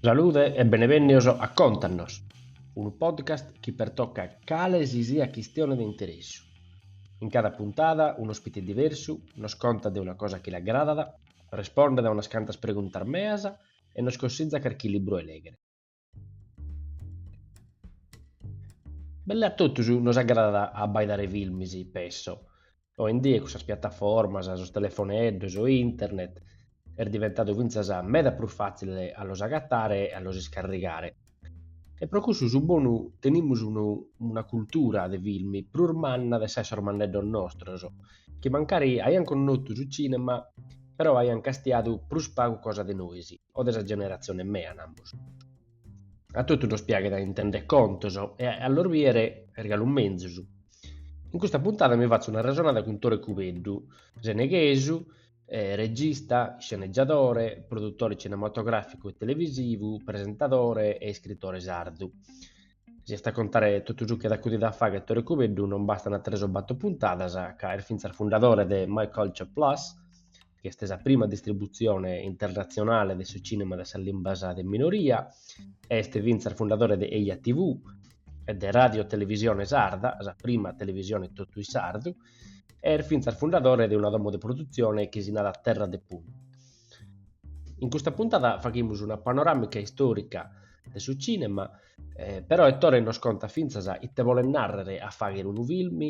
Salude e benevènnios a Contanos, unu podcast chi pertocat cale si siat chistione de interessu. In cada puntada un'òspite diversu nos contat de una cosa chi l'agradat, respondet a unas cantas preguntas meas e nos consiza carchi libru 'e lèghere. Belle a totus, nos agradat a abbaidare filmis pesso, oindie cun sas piattaformas, sos telefoneddos, s'internet, est diventadu fintzas meda prus fatzile a los agatare e a los iscarrigare e pro cussu su bonu tenimus una cultura de filmi prus manna de sa 'e sos manneddos nostros chi mancari aian connotu su cinema però aian castiadu prus pagu cosa de nois. o de sa generazione mea, namus. A totu nos piaghet a intender contos e a los biere galu menzus. In custa puntada mi fatzo una resonada cun Tore Cubeddu, seneghesu, regista, sceneggiadore, produtore cinematograficu e televisivu, presentadore e iscritore sardu. Si est a contare totu su chi at acudidu a fagher Tore Cubeddu non bastan tres o batto puntadas, ca est fintzas fundadore de My Culture Plus, chi est sa prima distributzione internatzionale de su cìnema de sas limbas de minoria, est fintzas fundadore de Eja TV e de Ràdio Televisione Sarda, sa prima televisione totu in sardu, e est fintzas fundadore de una domo de produtzione chi si narat Terra de Punt. In custa puntada faghimus una panoràmica istòrica de su cìnema, però Tore nos contat fintzas ite bolet nàrrere a fàghere unu filme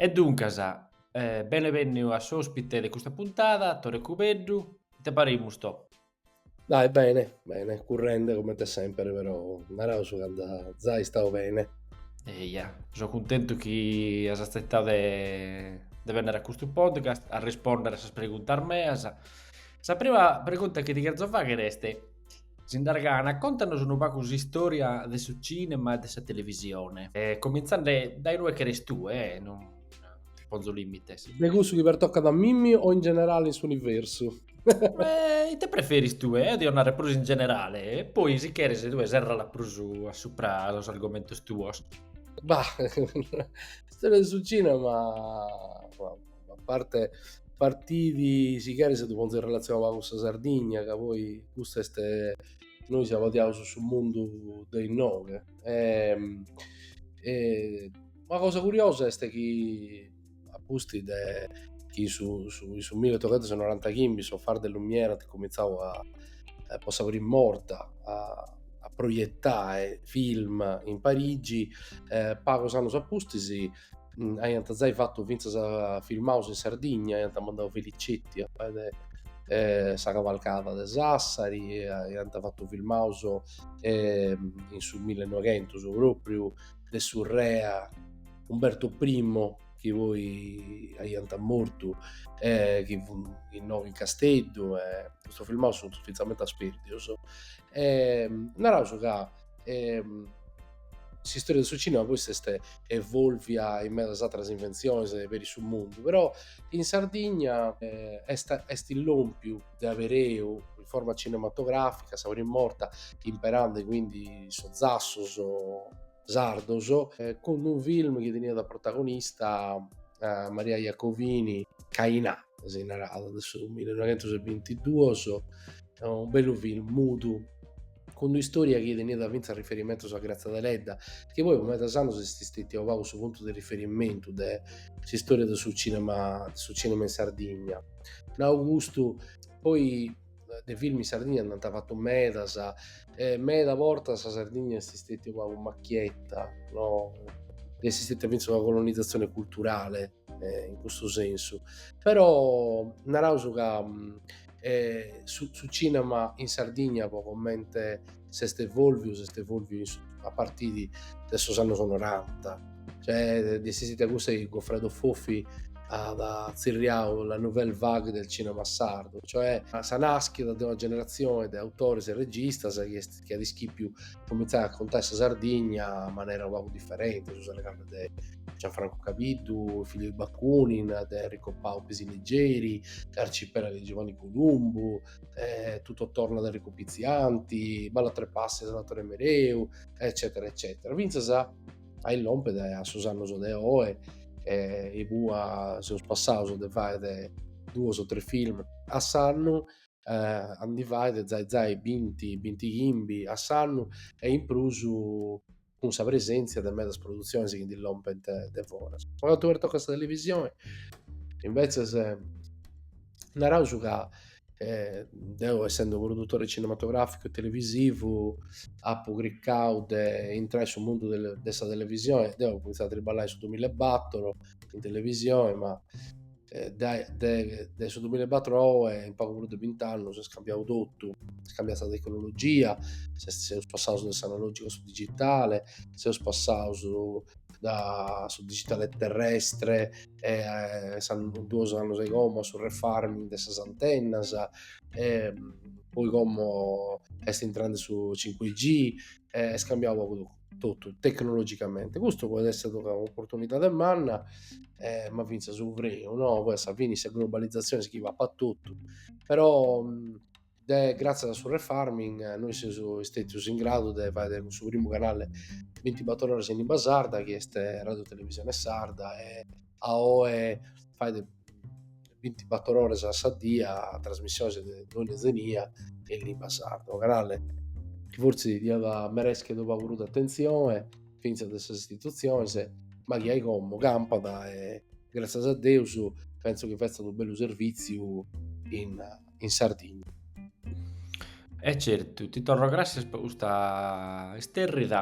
E duncas, bene benniu a s'ospite de custa puntada, Tore Cubeddu, ite parimus Tò? Dai bene, bene, currende comente sempre, però naraus ca andaus ai 'e istare bene. Eia, so cuntentu chi as atzetadu de bennere a custu podcast a rispondere a sas preguntas meas. Sa prima pregunta chi ti cherzo faghere est si nd'as gana, contanos unu pagu s'istoria de su cinema e de sa televisione, e comintzende dae inue cheres tue, eh, no, no ti ponzo limites. De cussu chi pertocat a mimmi o in generale in s'universu? Eh, ite preferis tue? Eh? Dia narre prus in generale, e poi si cheres tue serrala prus a supra a sos argomentos tuos. Bah, storia de su cinema, a parte partidi, si cheres ddu ponzo in relazione unu pagu cun sa Sardigna, ca poi custa est, nois abbaidaus su mundu de inoghe. E, e una cosa curiosa est chi a pustis de chi su, su, in su 1895 sos Far del Lumiere ant comintzau a, eh, po sa prima borta a, a proiettare film in Parigi, eh, pagos annus a pustis mm, aiant zai fattu fintzas a filmaus in Sardigna, aiant mandau Felicetti a fare eh, sa cavalcada de Sassari, eh, aiant fattu filmaus eh, in su 1900 propriu de su re Umberto I, chi poi aiant mortu, e chi innoga in Casteddu, e custos filmados sunt fintzas isperdios. E naraus ca s'istòria de su cìnema poi s'est evòlvia in medas àteras inventziones peri su mundu, però in Sardigna est illòmpiu de abereu in forma cinematogràfica sa primu borta imperande quindi sos giassos sardos, cun unu film chi teniat a protagonista Maria Jacobini, Cainà si narat, de su millinoighentus e bintiduos, unu bellu film mudu cun un'istòria chi teniat fintzas riferimentos a Grazia Deledda, chi poi po medas annos est istètiu pagu su puntu de riferimentu de s'istòria de su cinema, de su cinema in Sardigna. Nau custu poi de film in Sardigna nd'ant fatu medas, e meda bortas sa Sardigna est stètia unu pagu macchietta, no? est stètia fintzas una colonizzazione culturale eh, in custu sensu. Però naraus ca eh, su, su cinema in Sardigna po comente s'est evòlviu, s'est evòlviu a partiri de sos annos 90, cioè de sighidu a cussa chi Goffredo Fofi at tzirriadu la nouvelle vague del cinema sardo, cioè sa nàschida de una generatzione de autores e registas chi, est, chi at ischipiu comintzai a contai sa Sardigna a manera unu pagu diferenti, seus allegande de Gianfranco Cabiddu, Figlio di Bakunin, de Enrico Pau Pesi leggeri, Arcipelaghi de Giovanni Columbu, eh, Tutto torna de Enrico Pitzianti, Ballo a tre passi de Salvatore Mereu, eccetera, eccetera. Fintzas a, a illòmpede, a sos annos de oe, eh, inue seus passaus de fare de duos o tre film a s'anno, eh, a nde fare zai zai 20, 20 chimbi a s'anno, e in prus cun sa presèntzia de medas produtziones chi ndi lompent de foras. Po cantu pertocat sa televisione, imbetzes, naraus ca deu essende unu produtore cinematogràficu e televisivu apu cricau de intrai in su mundu de sa televisione, deu apu cumintzau a triballai in su duamila e bator in televisione ma eh, dae, de, de su 2004 in pagu prus de 20 annos est cambiadu totu, est cambiada sa tecnologia, seus passados de s'analogico a su digitale, seus passados da su digitale terrestre e sa, duos annos a como a su refarming de sas antennas e poi como est intrande su 5G e est cambiadu unu pagu totu. totu tecnologicamente, custu podet esser una opportunidade manna eh, ma fintzas su freu, no? poi a sa fine sa globalizzazione si chi papat a totu, però de, grazie a su refarming noi seus stetius in gradu de fàere su primu canale 24 oras in limba sarda chi est Radio Televisione Sarda e a oe fait 24 oras a sa dia trasmissiones de dònnia zenia in limba sarda, unu canale chi fortzis diat merescher unu pagu prus de atentzione fintzas de sas istitutziones, ma chi oi como campat e, gratzias a Deus, pentzo chi fetzat unu bellu servìtziu in in Sardigna. E certu, ti torro gràssias pro custa istèrrida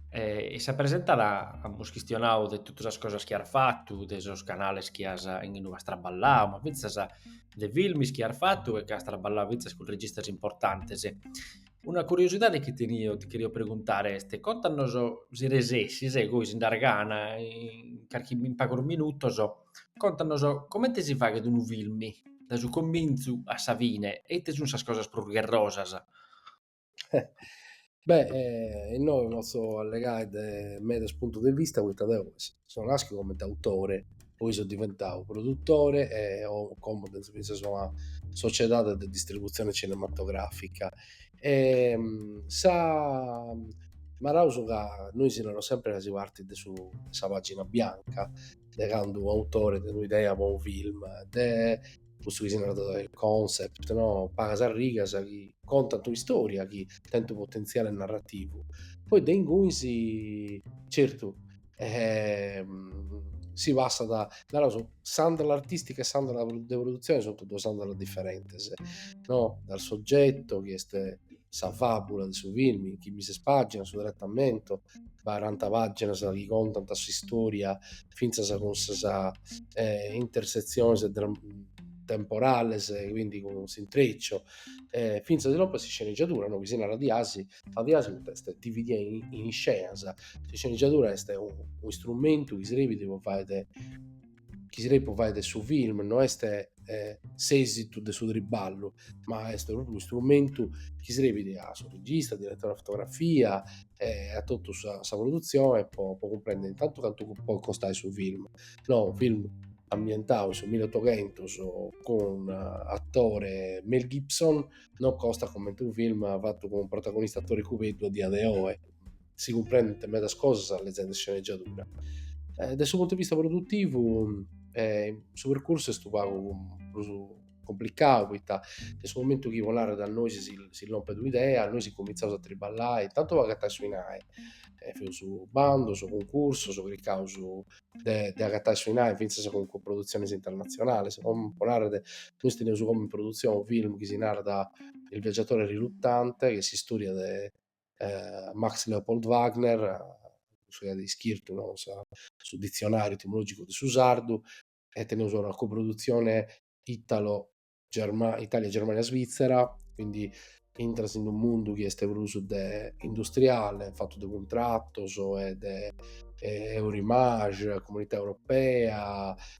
e sa presentada chi amus chistionadu de totu sas cosas chi as fatu, de sos canales chi as in inue as traballadu, ma fintzas de filmis chi as fatu e as traballadu fintzas cun registas importantes. Una curiosidade chi tenio, ti cherio preguntare est, contanos si resessis, e cheres si nd'as gana, in carchi in pagos minutos Contanos comente si faghet unu filme, dae su cominzu a sa fine, e ite sun sas cosas prus gherrosas. Bè, inoghe potzo allegai de medas puntos de vista poita deo so nàschidu comente autore, poi so diventadu produtore e oi como tenzo fintzas una sociedade de distribuzione cinematografica e naraus ca nois si narat semper ca si partit de su de sa pagina bianca de candu un autore de unu idea po un film de cussu chi si narat concept no pagas rigas chi contant una istoria chi tenet unu potentziale narrativu poi de ingunis certu eh, si passat nareus s'andala artistica e s'andala de produtzione sunt duas andalas diferentes no dae su soggetto chi est sa fabula de su film in chimbe ses paginas su trattamento 40 pàginas chi contant s'istòria fintzas cun sas eh, intersetziones temporales, quindi cun s'intreccio, eh, fintzas a lòmpere a s'isceneggiadura, no, chi si narat adiasi, adiasi poita est dividida in, in iscenas, s'isceneggiadura est un'istrumentu chi serbit po fàghere chi srebit po fàere su film no est eh, s'esitu de su triballu, ma est propriu un'istrumentu chi srebit a su regista, al direttore de fotografia e a totu sa, sa produzione po, po cumprendere intantu cantu podet costai su film. No, un film ambientau in su 1800 cun eh, attore Mel Gibson non costa comente un film fattu cun protagonista Tore Cubeddu a die de oe si cumprendent medas cosas lezende s'iscenegiadura. Eh, de su puntu de vista produtivu, eh, su percursu est u' pagu prus complicau, poita de su momentu chi po narrer a nois si, si lompet u' idea, nois incuminzaus a triballai, intantu po agatai su inai, eh, feus bandus, cuncursus, chircaus de, de agatai su inai fintzas cun coprodutzionis internatzionales, po, po narrer, nois teneus como in produtzioni unu film chi si narat Il viaggiatore riluttante, chi est s'istòria de eh, Max Leopold Wagner, cussu chi at ischirtu no? Sa, su ditzionàriu etimològicu de su sardu, e teneus una coprodutzione italo Germa, Italia Germania Svizzera, quindi intras in unu mundu chi est prus de industriale, fatu de cuntratos e de e Eurimage, Comunità Europea,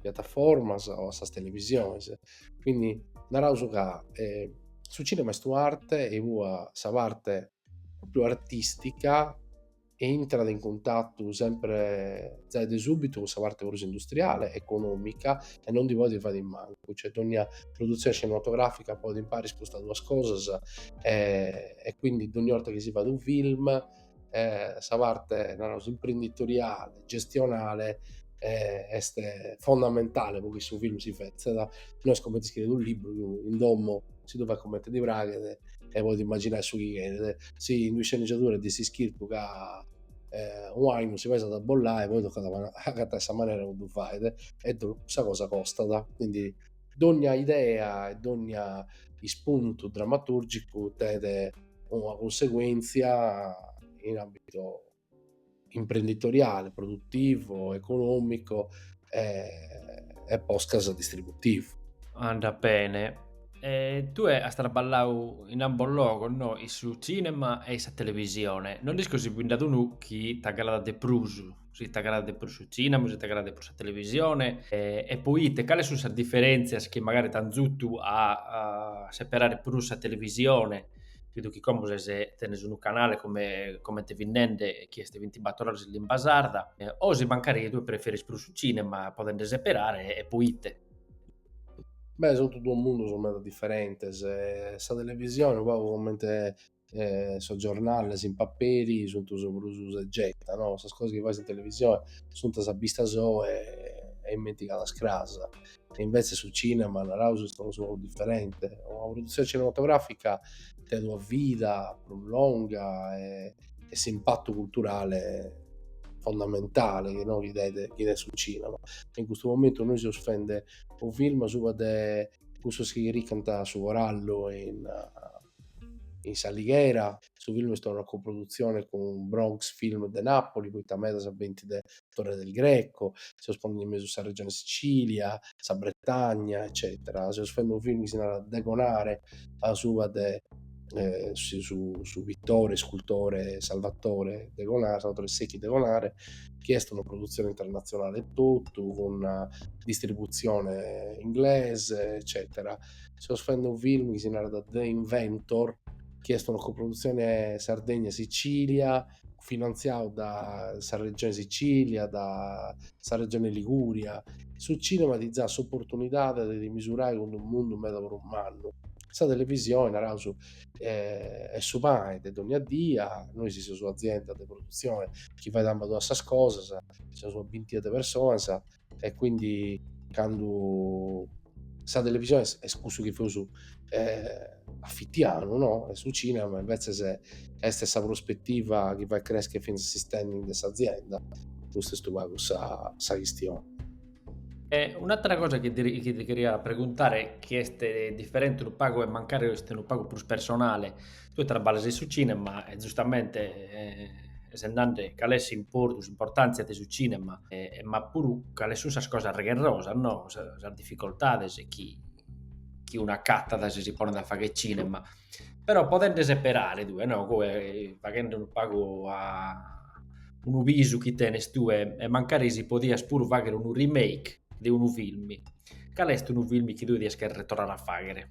piataformas o a sas televisiones, quindi naraus ca eh, su cinema est un'arte e ua sa parte prus artistica intrat in cuntatu sempre zai de subitu cun sa parte prus industriale, economica e non ndi podit fagher a mancu, cioè dònnia produtzione cinematografica ponit imparis custa duas cosas e, e quindi dònnia 'orta chi si fait unu film eh, sa parte, naraus, imprenditoriale, gestionale, eh, est fondamentale po chi su film si fetzet, no est comente iscriere un libro in domo, si ddu fait comente ddi praghet e podet immaginai su chi cheret, si in un'iscenigiadura ddu est ischirtu ca eh, un'ainu si pesat a bollai, poi tocat a agatai sa manera po ddu fai e cussa cosa costat, quindi dogna idea e dogna ispuntu dramaturgicu tenet Una conseguèntzia in àmbito imprenditoriale, produtivo, econòmico e, e poscas distributivo. Andat bene. E tue as traballadu in ambos logos, no? in su tzìnema e in sa televisione. Non isco si bi nd'at unu chi t'agradat de prus. si t'agradat prus su tzìnema, o si t'agradat prus sa televisione, e e po ite, cale sunt sas diferèntzias chi magari t'ant zutu a seperare prus sa televisione, chi tue chi como ses tenes unu canale come comente fis nende chi est vintibattor oras in limba sarda, o si mancari tue preferis prus su tzìnema podende seperare e po ite. Beh, sunt duos mundos meda diferentes, sa televisione po comente eh, sos giornales in paperi sunt prus usa e getta, no? sas cosas chi fais in televisione sunt bistas oe e imentigadas cras. E invece su cinema, naraus, est unu zogu diferente. Una produzione cinematografica tenet una vida prus longa e, e s'impattu culturale fondamentale chi, no, chi, tenet, chi tenet su cinema. In custu momentu nois seus fende unu film suba de cussos chi chircant su corallu in In s'Alighera, su film est una coprodutzione cun Bronx Film de Nàpoli, poita medas benint de Torre del Greco, seus ponende in mesu sa regione Sicìlia, sa Bretagna, eccètera. Seus faendi unu film chi si narat De Gonare, asuba de su pitore, iscultore Salvatore De Gonare, Salvatore Sechi De Gonare, chi est una produtzione internatzionale etotu, cun una distributzione inglese, eccètera. seus faende unu film chi si narat The Inventor, chi est una coprodutzione Sardegna-Sicilia, finanziadu da sa Regione Sicilia, da sa Regione Liguria. Su cinema ti zat s'oportunidade de ti misurai cun d'unu mundu meda prus mannu. Sa televisione, naraus, eh, est su pane de dònnia dia, nois seus un'azienda de produtzione chi fait ambas duas sas cosas, seus una bintia de personas, e quindi candu sa televisione est cussu chi feus eh, a fitianu no? e su cinema inveces est sa prospettiva chi fait cresche finzas s'istanding de s'azienda custa est unu pagu sa, sa chistione e un'altera cosa chi ti, chi ti cheria preguntare chi est differente unu pagu e mancari est unu pagu prus personale Tue traballas in su cinema e giustamente eh, ses nande cale est s'importu, s'importàntzia de su cinema, eh, ma puru cale sunt sas cosas regherrosas, no? Sas dificoltades chi, chi unu acatat si si ponet a fagher cinema. Però podende seberare tue, no? Cioè, faghende unu pagu a unu bisu chi tenes tue e mancari si podias puru fagher unu remake de unu filmi, cale est unu filmi chi tue dias cherrer torrare a fagher?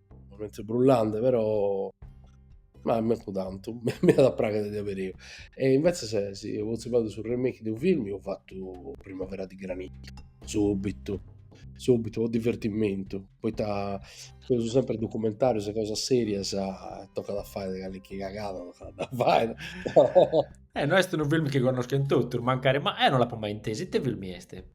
Ovviamente brullande, però ma mancu tantu, m'iat a praghere de aberu. E invetzes si eu potzu fagher su remake de unu film, ieu fatu Primavera di granito, subitu, subitu, pro divertimentu, poita seus sempre documentarios e cosas serias, tocat a fagher calchi cagada, tocat a dda fagher. E no est unu film chi connoschent totus, mancari, ma eo no l'apo mai intesu, ite filmi est?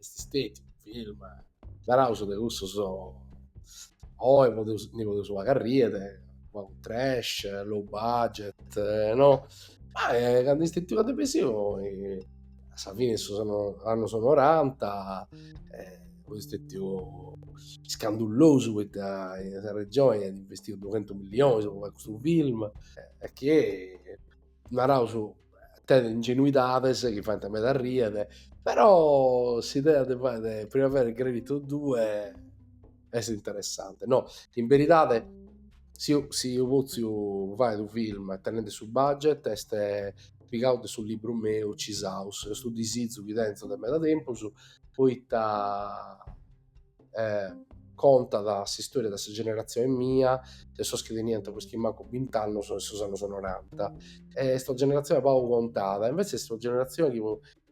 Est stètiu unu film naraus de cussus oe ndi podeus unu pagu arriet, pagu trash, low budget, no? Ma candu est stètiu candu est bessiu a sa fini 'e sos annos noranta est stètiu iscandullosu poita sa Regione iat investidu dughentus milliones po fai custu film e che naraus tenit ingenuidades chi faint meda arriet, però s'idea de faghere Primavera in Granito 2 est interessante, no, in beridade si eus si eus potziu faghere unu film tenende su budget e pigadu de su libru meu Cisaus, est unu disizu chi tenzo de meda tempus, poita eh, contat s'istòria de sa generatzione mia, de sos chi teniant prus chi mancu bint'annos in sos annos 90. E est una generatzione pagu contada, invece est una generatzione chi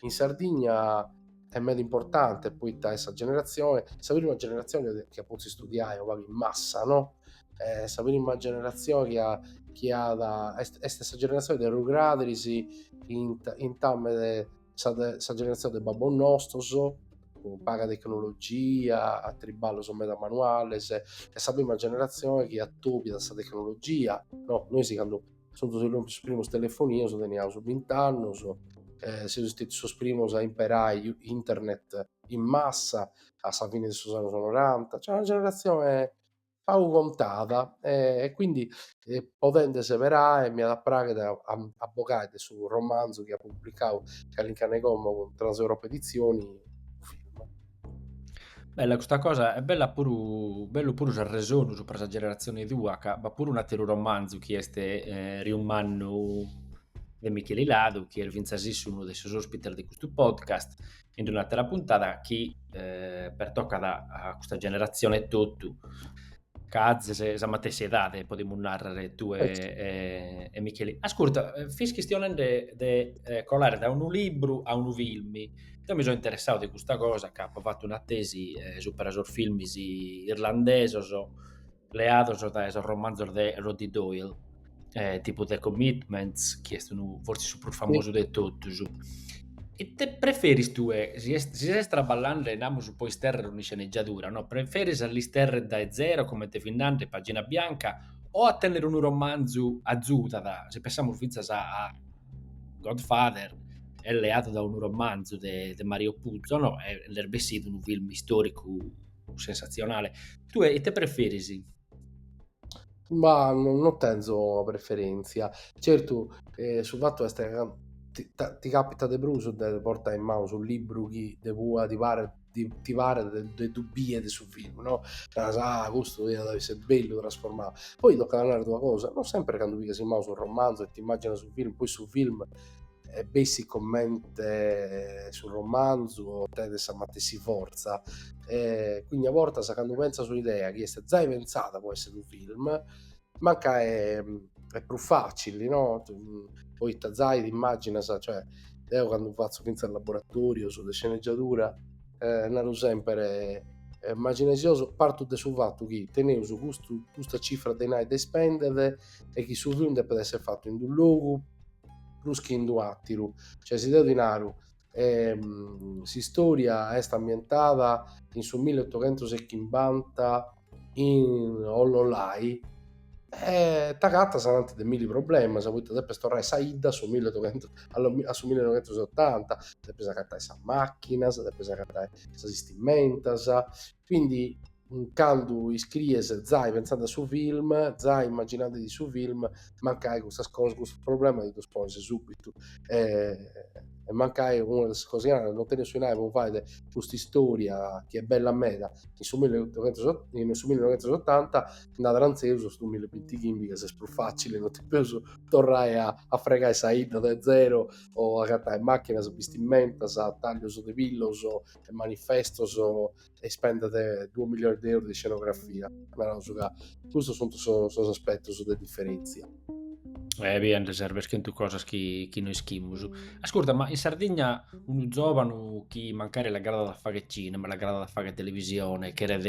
in Sardigna est meda importante, poita est sa generatzione, sa prima generatzione chi at potziu studiai unu pagu in massa, no? Eh, sa prima generatzione chi, ha, chi at, est, est sa generatzione de rugradis in, intames de sa, de, sa generatzione de babos nostros, cun paga tecnologia, a triballos meda manuales, e sa prima generatzione chi atobiat a sa tecnologia. No, nois cando sunt lompidos sos primos telefoninos teniaus bint'annos, eh, seus stetidos sos primos a imperai internet in massa a sa fine de sos annos 90, cioè una generatzione pagu contada e quindi podende seberare mi iat a praghere a bogai de su romanzu chi apo publicau calincun'annu a como cun Transeuropa Edizioni. Bella custa cosa e bella puru, bellu puru s'arresonu pro sa generatzione tua ca b'at puru un'ateru romanzu chi est Riu Mannu de Micheli Ladu chi est fintzas issu unu de sos ospites de custu podcast in d-una àtera puntada chi pertocat a custa generatzione etotu, ca azis sa matessi edade, podimus nàrrere, tue e Micheli. Ascurta, fis chistionende de colare dae unu libru a unu filmi. Deo mi so interessadu de custa cosa ca apo fatu una tesi subra sos filmis irlandesos leados dae sos romanzos de Roddy Doyle, eh, tipu The Commitments, chi est unu, forsi su prus famosu de totus. Ite preferis tue, si, est, si ses traballende, namus, po isterrere un'isceneggiadura, no? preferis a l'isterrere dae zero, comente fis nande, pagina bianca, o a tenere unu romanzu azudat, si pensamus fintzas a, a Godfather, est leadu dae unu romanzu de, de Mario Puzo, no? e nd'est bessidu unu film istoricu sensatzionale. Tue ite preferis? Ma non, non tenzo una preferentzia. Certu, eh, su fattu est ti, ti capitat de prus de portai in manu su libru chi de poi ti paret ti, ti paret de, de ddu bier de su film, no? Naras, ah, custu iat a esser bellu trasformau. Poi tocat a narrer una cosa, non semper candu pigas in manu su romanzu e ti immaginas su film, poi su film e bessit comente su romanzu o tenet sa matessi fortza e quindi a bortas cando pentzas un'idea chi est zai pentzada pro essere unu film mancai est prus facili no poita zai ti immaginas cioè deo cando fatzo finzas laboratorios de sceneggiadura eh, naro sempre eh, immaginas, ego parto de su fattu chi teneus custu, custa cifra de dinai de spendere e chi su film depet essere fattu in d'unu logu prus chi in unu àteru, cioè si deo ti naru s'istòria est ambientada in su milleotoghentos e chimbanta in Ollolai t'agatas ananti de milli problemas poita depes torrai sa 'idda a su milleotoghentos a su millenoghentos e otanta, depis agatai sas machinas, depis agatai sas istimentas Quindi candu iscries zai pentzandi a su film, zai immaginandi de su film, mancai custas cosas, custus problemas ti ddus ponis subitu e, e mancai una de is cosas chi non teneus su dinai po fai custa istoria chi est bella meda in su in su millinoghentosotanta dda trantzeus a su dumilabintichimbi ca est prus facili non depeus torrai a a fregai sa idda de zero o agatai machinas, bistimentas, taglius de pillus e manifestos e spender duos miliones de euro de scenografia. Naraus ca custos sunt sos, sos aspetos de diferentzia. Eh, bi nd'at a esser chentu cosas chi, chi no ischimus. Ascurta, ma in Sardigna unu giovanu chi mancari l'agradat a fagher cinema, l'agradat a fagher televisione, cheret...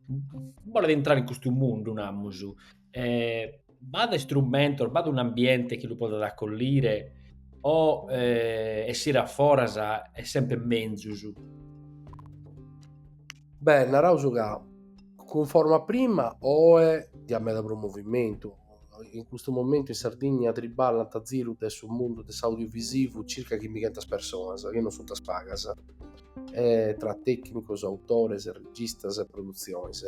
bolet intrare in custu mundu, namus, E b'at istrumentos, b'at un'ambiente chi lu podet acollire o eh, essire a foras est sempre menzus? Beh, naraus ca cunforma a prima oe ddoi at meda prus movimentu, in custu momentu in Sardigna triballant a ziru de su mundu de s'audiovisivu circa chimighentas personas, chi non sunt pagas. eh, tra tècnicos, autores, registas e produtziones.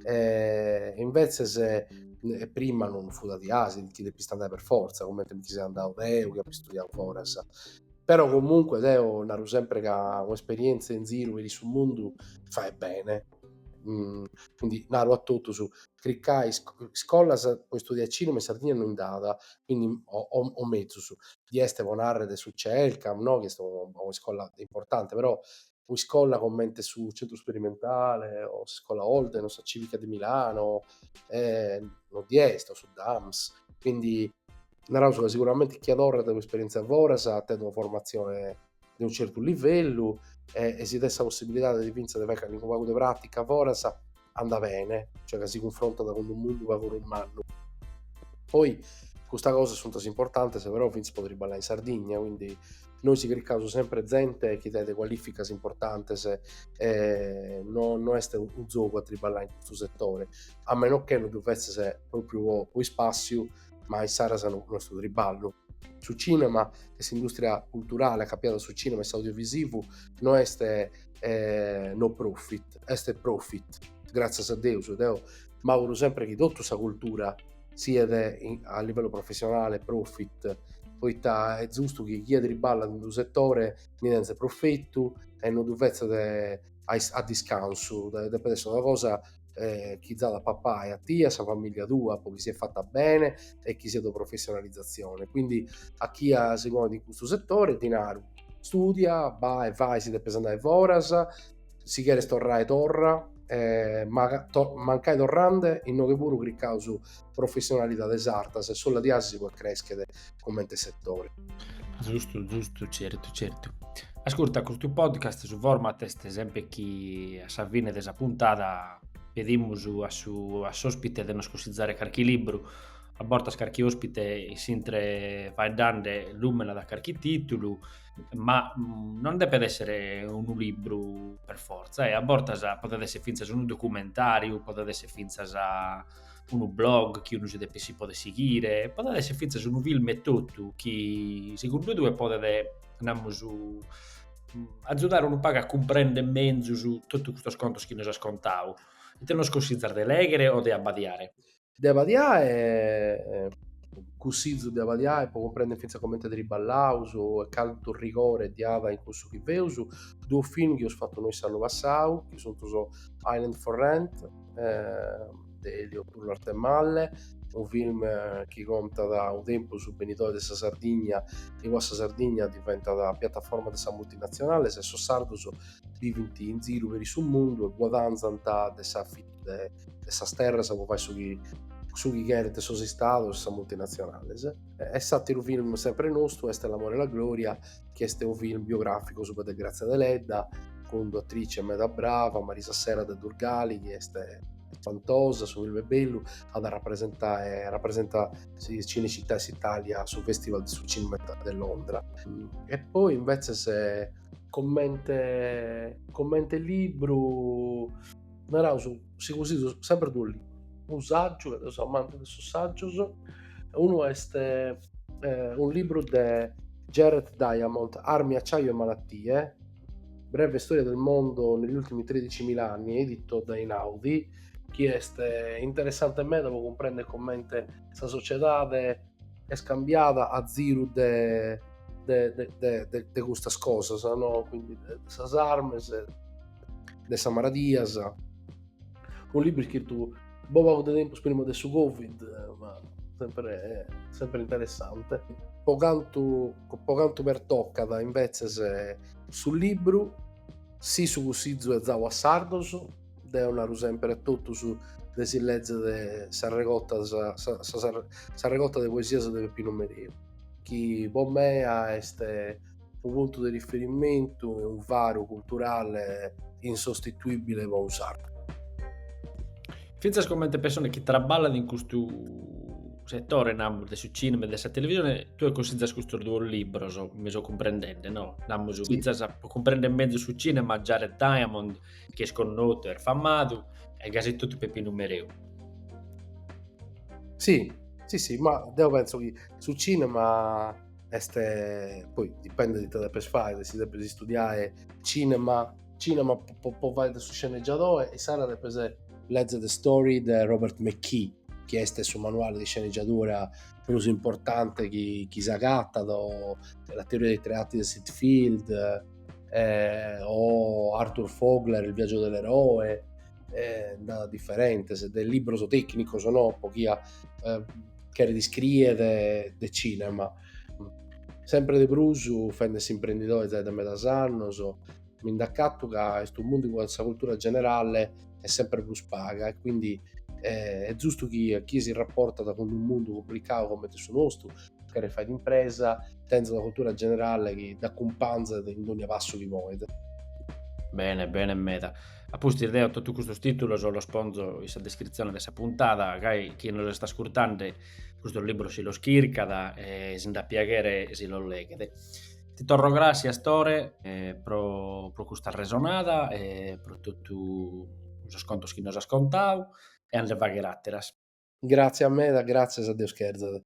Eh, invetzes eh, prima non fut di asi, chi depiast andai per forza, comente mimi chi seu andau deu, chi apu istudiau foras. Però comunque deu naru sempre ca un'esperienza in ziru peri su mundu fae bene. Mm, quindi naru a totus, cricai sc- scolas po istudiai cinema in Sardigna non nd'at, quindi o, o, o mezus. ddu est, po narrer, su Celcam no chi est un'iscola importante però un'iscola comente su Centro Sperimentale o s'iscola Holden o sa Civica di Milano e no ddu est o su Dams quindi naraus ca seguramente chie torrat de un'isperientzia foras at tentu una formatzione de unu certu livellu e, e si ddu est sa possibilidade de fintzas de fai unu pagu de pràtica foras andat bene, cioè ca si cunfrontat cun unu mundu unu pagu prus mannu. Poi custas cosas suntis importantes, però fintzas po triballai in Sardigna, quindi nois cricaus sempre zente chi tenit cualificas importantes e no, no est unu zogu a triballai in custu setore, a meno che no ddu fessas propriu po, po ispassiu ma a is saras no, no est su triballu. Su cinema e s'industria culturale acapiada a su cinema e s'audiovisivu no est eh, no profit, est profit, gratzias a Deus, deo m'auguru sempre chi totu sa cultura siat a livellu professionale profit, poita est zustu chi chie triballat in d'u setore ndi tentzat profittu e no ddu fetzat de iscansu, depet essi una cosa eh, chi zat a papae a tie, a sa famiglia tua, po chi siat fatta bene e chi siat de professionalizzazione. Quindi a chie sighit in custu settore, ti naru, studia, bae, fae, si depes andare foras, si cheres torrare torra, eh, mancai torrande, innoghe puru criccaus professionalidades artas e solu diasi si podet creschere comente setore. Giustu, giustu, certu, certu. Ascurta, custu podcast su format est sempre chi a sa fine de sa puntada pedimus a su a s'ospite de nos cussizare carchi libru, a bortas carchi ospite s'intre chi faeddande lumenat carchi titulu, ma non depet essere unu libru per forza e a bortas podet essere finzas unu documentariu, podet essere finzas unu blog chi unu si depit si podet sighire, podet essi fintzas unu filmu etotu chi segundu tue podet, namus, agiudare unu pagu a cumprendi menzus totus custos contos chi nos as contadu. Ite nos cunsizzas de lèghere o de abadiare? De abadiare cunsizzu de abadiare po cumprendi fintzas comente triballaus e cantu rigore ddu at in cussu chi feus, duos filmus chi aus fatu nois s'annu passau chi sunt sos Island for Rent eh, de Elio Turno Arthemalle, un film eh, chi contat un tempus benidore de sa Sardigna, inue sa Sardigna diventat piattaforma de sas multinazionales e sos sardos vivint in ziru peri su mundu e guadanzant de s'afitu de sas terras po fai su chi su chi cherent sos istados e sas multinazionales. E s'atteru film sempre nostru est L'amore e la gloria, chi est unu film biogràficu subra de Grazia Deledda, cun d'una atrice meda brava, Marisa Serra de Durgali, chi est fantosa, su film est bellu, at a rapresentare, rapresentat Cinecittà e s'Italia a su Festival de su Cinema de Londra. E poi invece se comente, comente libru, naraus si cussizu sempre duos libros, unu sàgiu, ca deo so amante de sos sàgios, unu est eh, unu libru de Jared Diamond, Armi, acciaio e malattie, breve storia del mondo negli ultimi 13.000 anni, edito da Einaudi, chi est eh, interessante meda pro cumprendere comente sa sociedade est cambiada a ziru de, de, de, de, de custas cosas, no? quindi de, de sas armas, de sas maradias, unu libru iscritu bo pagu de tempus prima de su Covid, ma sempre, sempre interessante. Po cantu, po cantu pertocat imbetzes su libru, si su cussizu 'e zau a sardos, deo naru sempre a totus de si lezere sas regotas, sa, sa, sa regota de poesias de Peppinu Mereu, chi po mea est unu puntu de riferimentu e unu faru culturale insostituibile po unu sardu. Fintzas comente pessone chi traballat in custu setore namus de su cinema e de sa televisione tue consideras custos duos libros si so cumprendende no namus sì. finzas a cumprèndere mezus su cinema Jared Diamond chi est connotu e famadu e gasi totu Pepinu Mereu sì sì sì ma deo penso chi su cinema est poi dipendet de ite depes faere si depes istudiare cinema cinema po, po faere su sceneggiadore e issara depes lèzere The Story de Robert McKee chi est su manuale de sceneggiadura prus importante chi, chi s'agatat o la teoria dei tre atti de Syd Field eh, o Arthur Vogler il viaggio dell'eroe eh, nd'at diferentes, de libros tecnicos o no, po chia eh, cheret iscrier de, de cinema. Sempre de prus, fende s'imprendidore zai de medas annos, mi nd'accattu ca est un mundu chi sa cultura generale est sempre prus paga e quindi eh, est zustu chi chi si rapportat cun unu mundu cumplicau comente su nostru, cheret faere impresa, tenzat una cultura generale chi dd'acumpanzat in dònnia passu chi movet. Bene, bene meda. A pustis deo totu custos tìtulos los ponzo in sa descritzione de sa puntada, gai chie nos est ascurtende custos libros si los chircat e si nd'at piaghere si los leghet. Ti torro gràssias Tore eh, pro, pro custa arresonada e pro totu sos contos chi nos as contadu e a nde fàghere àteras. Gràtzias meda, gràtzias a Deus cherzat.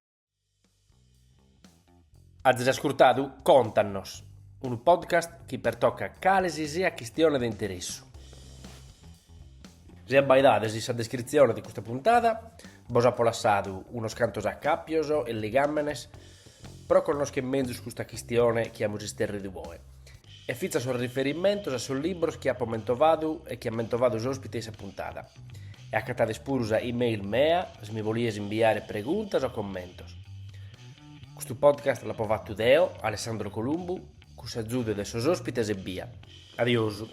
Azis ascurtadu Contanos, unu podcast chi pertocat cale si siat chistione de interessu. Si abbaidades in sa descritzione de custa puntada, bos apo lassadu unos cantos acàpios e ligàmenes pro connoschere mezus custa chistione chi amus isterridu oe. e fintzas sos riferimentos a sos libros chi apo mentovadu e chi at mentovadu s'òspite in sa puntada. E acatades puru sa e-mail mea, si mi bolides imbiare preguntas o commentos. Custu podcast l'apo fattu deo, Alessandro Columbu, cun s'agiudu de sos òspites e bia. Adiosu.